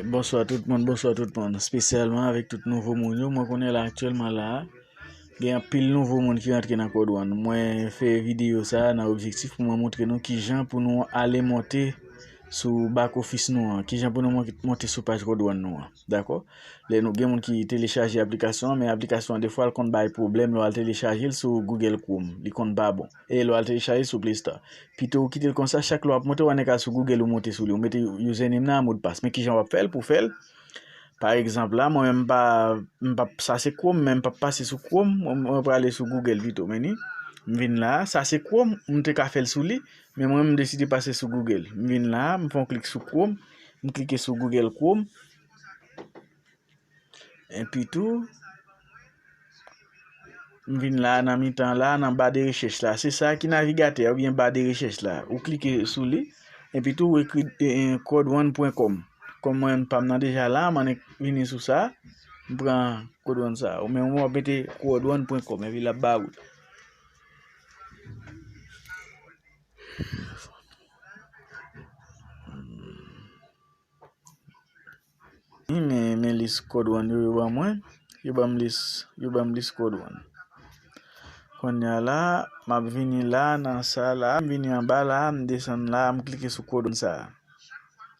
Bonswa tout moun, bonswa tout moun, spesyalman avèk tout nouvo moun yo, mwen konnen la aktyèlman la, gen anpil nouvo moun ki antre nan kò dwàn, mwen fè videyo sa nan objektif pou mwen montre nou ki jan pou nou ale monte sou bak ofis nou an, ki jan pou nou monte sou paj kò dwàn nou an, dakò? Lè nou gen moun ki telechaje aplikasyon an, men aplikasyon an defwa l konn bay pwoblèm lè w al telechaje l sou Google Chrome, li konn pa bon. E lè w al telechaje sou Play Store. Pito ou kite l konsa, chak lè w ap monte w annik al sou Google ou monte sou li, ou mete username nan ak modpas. Men kijan w ap fè l pou w fè l. Pa egzanp la, mwen menm m pa, m pa, sa se Chrome men m pa pase sou Chrome, mwen prale sou Google pito. Men ni, m vin la, sa se Chrome, m te ka fè l sou li, men mwen m deside pase sou Google. M vin la, m fè yon klik sou Chrome, m klike sou Google Chrome. Enpi tou, m vin la nan mitan la, nan ba de rechèch la. Se sa ki navigatè ou byen ba de rechèch la. Ou klike sou li. Enpi tou, ou ekri kodwan.com. Kon mwen pa m nan deja la, m annik vini sou sa. M pran kodwan sa. Ou men ou ap mete kodwan.com. Enpi la ba ou. Wi men men lis code one yo yo ban mwen yo banm lis yo banm lis code one konnya la map vini la nan sa la m vini anba la m desann la m klike sou code one sa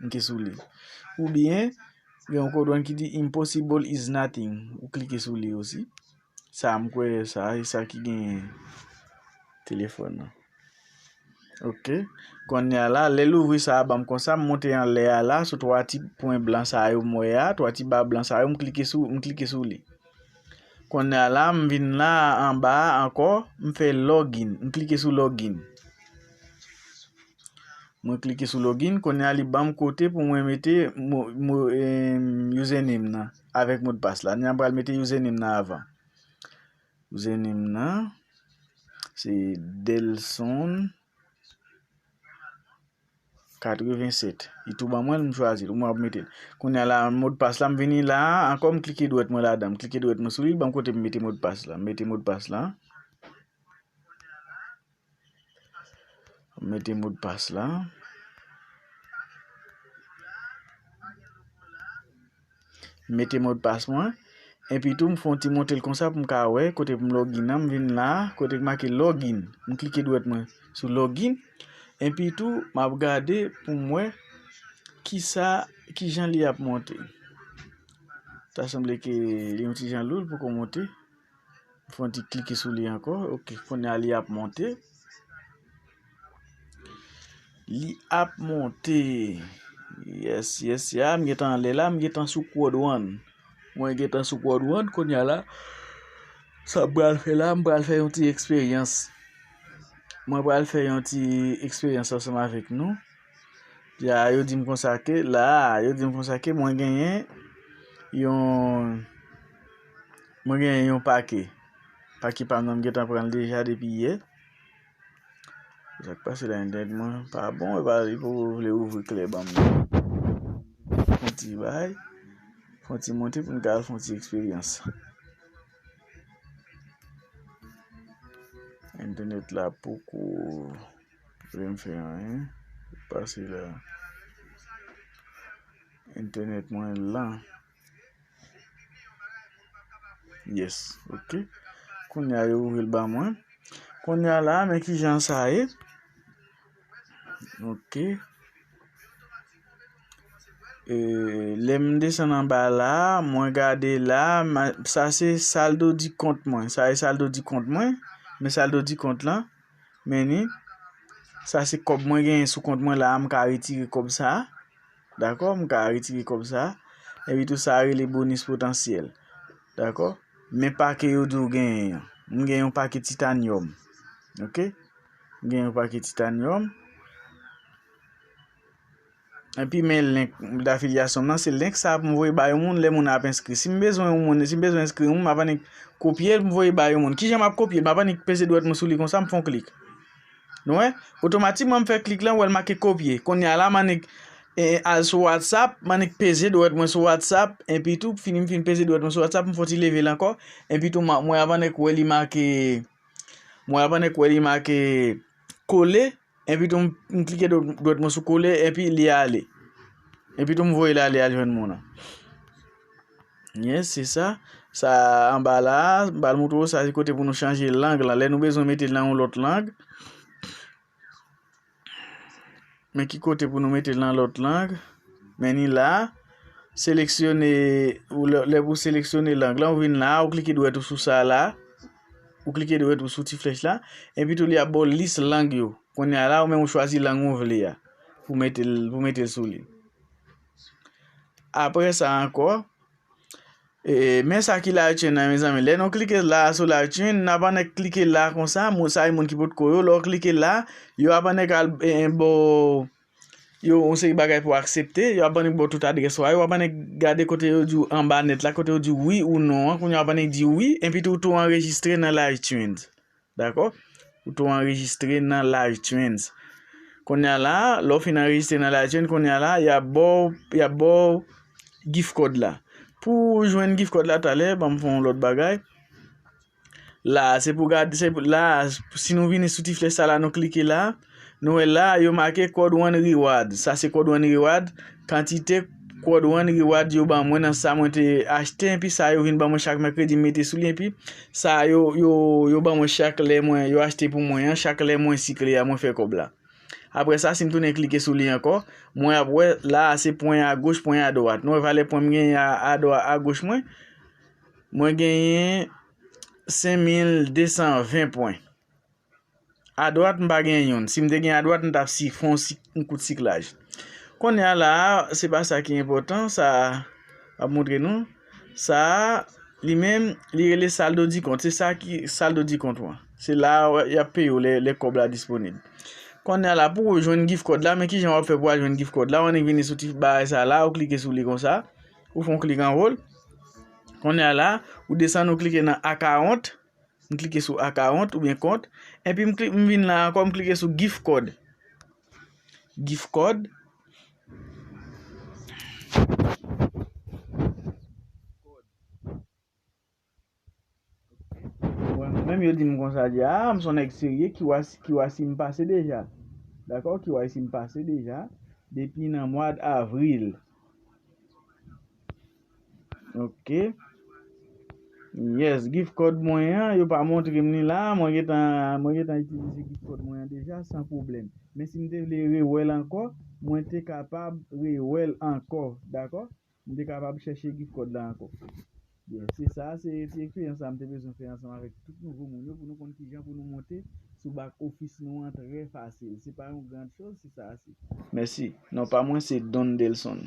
m klike sou li oubyen gen yon code one ki di impossible is nothing ou klike sou li osi. Sa m kwè sa e sa ki genyen telefòn nan. Ok. Konnye a la, lè l ouvri sa a ban m konsa, m monte anlè a la sou 3 ti pwen blan sa yo m wè a, 3 ti ba blan sa yo, m klike sou, m klike sou li. Konnye a la, m vin la a anba a ankò, m fè login, m klike sou login. Mwen klike sou login, konnye a li ban m kote pou mwen mete mo, mo, username nan. avèk modpas la. Ni an pral mete username nan avan. Username nan se Delson 87. Li tou ban mwen l, m chwazi l. Ou mwen ap mete l. Kounye a la, modpas la m vini la, ankò m klike dwèt mwen ladan. M klike dwèt mwen sou li, li ban m kote m mete modpas la. M mete modpas la. Mwen mete modpas la. Mwen mete modpas mwen. Epi tou m fon ti monte l konsa pou m ka wè kote pou m login nan. M vin la kote ki make login. M klike dwèt mwen sou login. Epi tou m ap gade pou m wè ki sa ki jan li ap monte. Ta sanble ke li yon ti jan loul poko monte. Fon ti klike sou li ankò. Ok, kounye a li ap monte. Li ap monte. Yes, yes, ya. M gen tan anle la. M gen tan sou kouwòd wan. Mwen gen tan sou kouwòd wan. Kounye a la. Sa m pral fè la. M pral fè yon ti eksperyans. Mwen pral fè yon ti eksperyans ansanm avèk nou. Yo di m konsa ke la, yo di m konsa ke mwen genyen yon pake. Pake pa m nan m gentan pran l deja depi yè. Sak pase la entènèt mwen pa bon e pa li pou vle ouvri kle ban m nan. Fon ti bay, fon ti monte pou m ka fon ti eksperyans. Entènèt la poko. Vlem fè anyen pase la. Entènèt mwen lan. Yes ok. Kounya yo ouvil ba mwen. Kounya la men ki jan sa ye. Ok. E lem desan nan ba la. Mwen gade la. Sa se saldo di kont mwen. Sa e saldo di kont mwen. Men saldo di kont lan. Men ni, sa se kòb mwen genyen sou kont mwen la a, m ka retire kòb sa a. Dakò, m ka retire kòb sa a. Epi tou sa rele bonis potansyèl. Dakò? Men pake yo di ou genyen an. M gen yon pake titanyòm. Ok? M gen yon pake titanyòm. Epi men link d'affiliation m nan, se link sa pou m voye ba yon moun lè moun nan ap enskri. Si m bezwen yon moun, si m bezwen enskri yon moun, m ap annik kopye l pou m voye ba yon moun. Kijan m ap kopye l? M ap annik peze dwèt mwen sou li konsa, m fè yon klik. Nou wè? Otomatikman m fè klik lan, ou wè l make kopye. Kounye a la m annik al sou WhatsApp, m annik peze dwèt mwen sou WhatsApp, epi tou fini m fin peze dwèt mwen sou WhatsApp, m fè yon ti leve l ankò, epi tou mwen ap annik wè li make mwen ap annik wè li make kole. Enpi tou m klike dwèt mwen sou kole enpi li ale. Enpi tou m voye l ale al jwenn moun an. Yes se sa. Sa anba la a, m pral montre w sa se kote pou nou chanje lang lan. Lè nou bezwen mete l nan yon lòt lang. Men ki kote pou nou mete l nan lòt lang. Men ni la a. Seleksyone, lè pou w seleksyone lang lan, ou vin la a, ou klike dwèt ou sou sa la a. Ou klike dwèt ou sou ti flèch la, epi tou li ap ba w lis lang yo. Kounye a la ou menm ou chwazi lang ou vle a pou mete l pou mete l sou li. Apre sa ankò, e, men sa ki live chain nan mezanmi. Lè nou klike la sou live chain, nan pandan klike la konsa, moun sa e moun ki potko yo, lè w klike la, yo ap annik al e, e ba w yo yon seri bagay pou aksepte, yo ap ban nèg ba w tout adrès ou a, yo ap ban nèg gade kote yo di w anba nèt la, kote yo di w wi ou non an, kounye a w ap ban nèg di w wi, enpi ou tou anrejistre nan LiveTrends. Dakò? Ou tou anrejistre nan LiveTrends. Kounye a la, lè w fin anrejistre nan LiveTrends, kounye a la, y ap ba w, y ap ba w gift code la. Pou w jwenn gift code la talè, ban m fè yon lòt bagay. La a, se pou gad, se pou, la a, si nou vini sou ti flèch sa la nou klike la, nou wè la a yo make Quad One Reward. Sa se Quad One Reward, kantite Quad One Reward yo ban mwen nan sa mwen te achte enpi sa yo vin ban mwen chak mèkredi m mete sou li enpi sa a yo yo yo ban mwen chak lè mwen yo achte pou mwen an, chak lè mwen sikle a mwen fè kòb la. Aprè sa si m tounen klike sou li ankò, mwen ap wè la a se pwen agoch pwen adwat. Nou wè valè pwen m genyen a adwa agoch mwen. Mwen genyen 5220 pwen. A dwat m pa gen youn. Si m te gen a dwat m tap si fon yon kout siklaj. Kounye a la a, se pa sa ki enpòtan, sa a ap montre nou. Sa a li menm li rele saldo di kont. Se sa ki saldo di kont ou an. Se la a y ap peye ou lè kòb la disponib. Kounye a la pou ou jwenn gif kòd la, men ki jan w ap fè pou w al jwenn gif kòd la. Ou annik vini sou ti bagay sa a la a, ou klike sou li konsa. Ou fè yon klik anwo l. Kounye a la, ou desann ou klike nan akawont. M klike sou akawont oubyen kont. Enpi m kli, m vin la ankò, m klike sou gif kòd. Gif kòd. Menm yo dim konsa di a m son nèg serye kyc m pase deja dakò kyc m pase deja depi nan mwad avril ok yes gif kòd mwen an yo pa montre m li la mwen gentan itilize gif kòd mwen an deja san pwoblèm men si m te vle rewèl ankò mwen te kapab rewèl ankò dakò. M te kapab chèche gift code la ankò. Byen, se sa a se ti eksperyans sa a m te bezwen fè ansanm avèk tout nouvo moun yo pou nou konn kijan pou nou monte sou back office nou an trè fasil. Se pa yon grand chose si sa a se. Mèsi. Non pa mwen se Don Delson.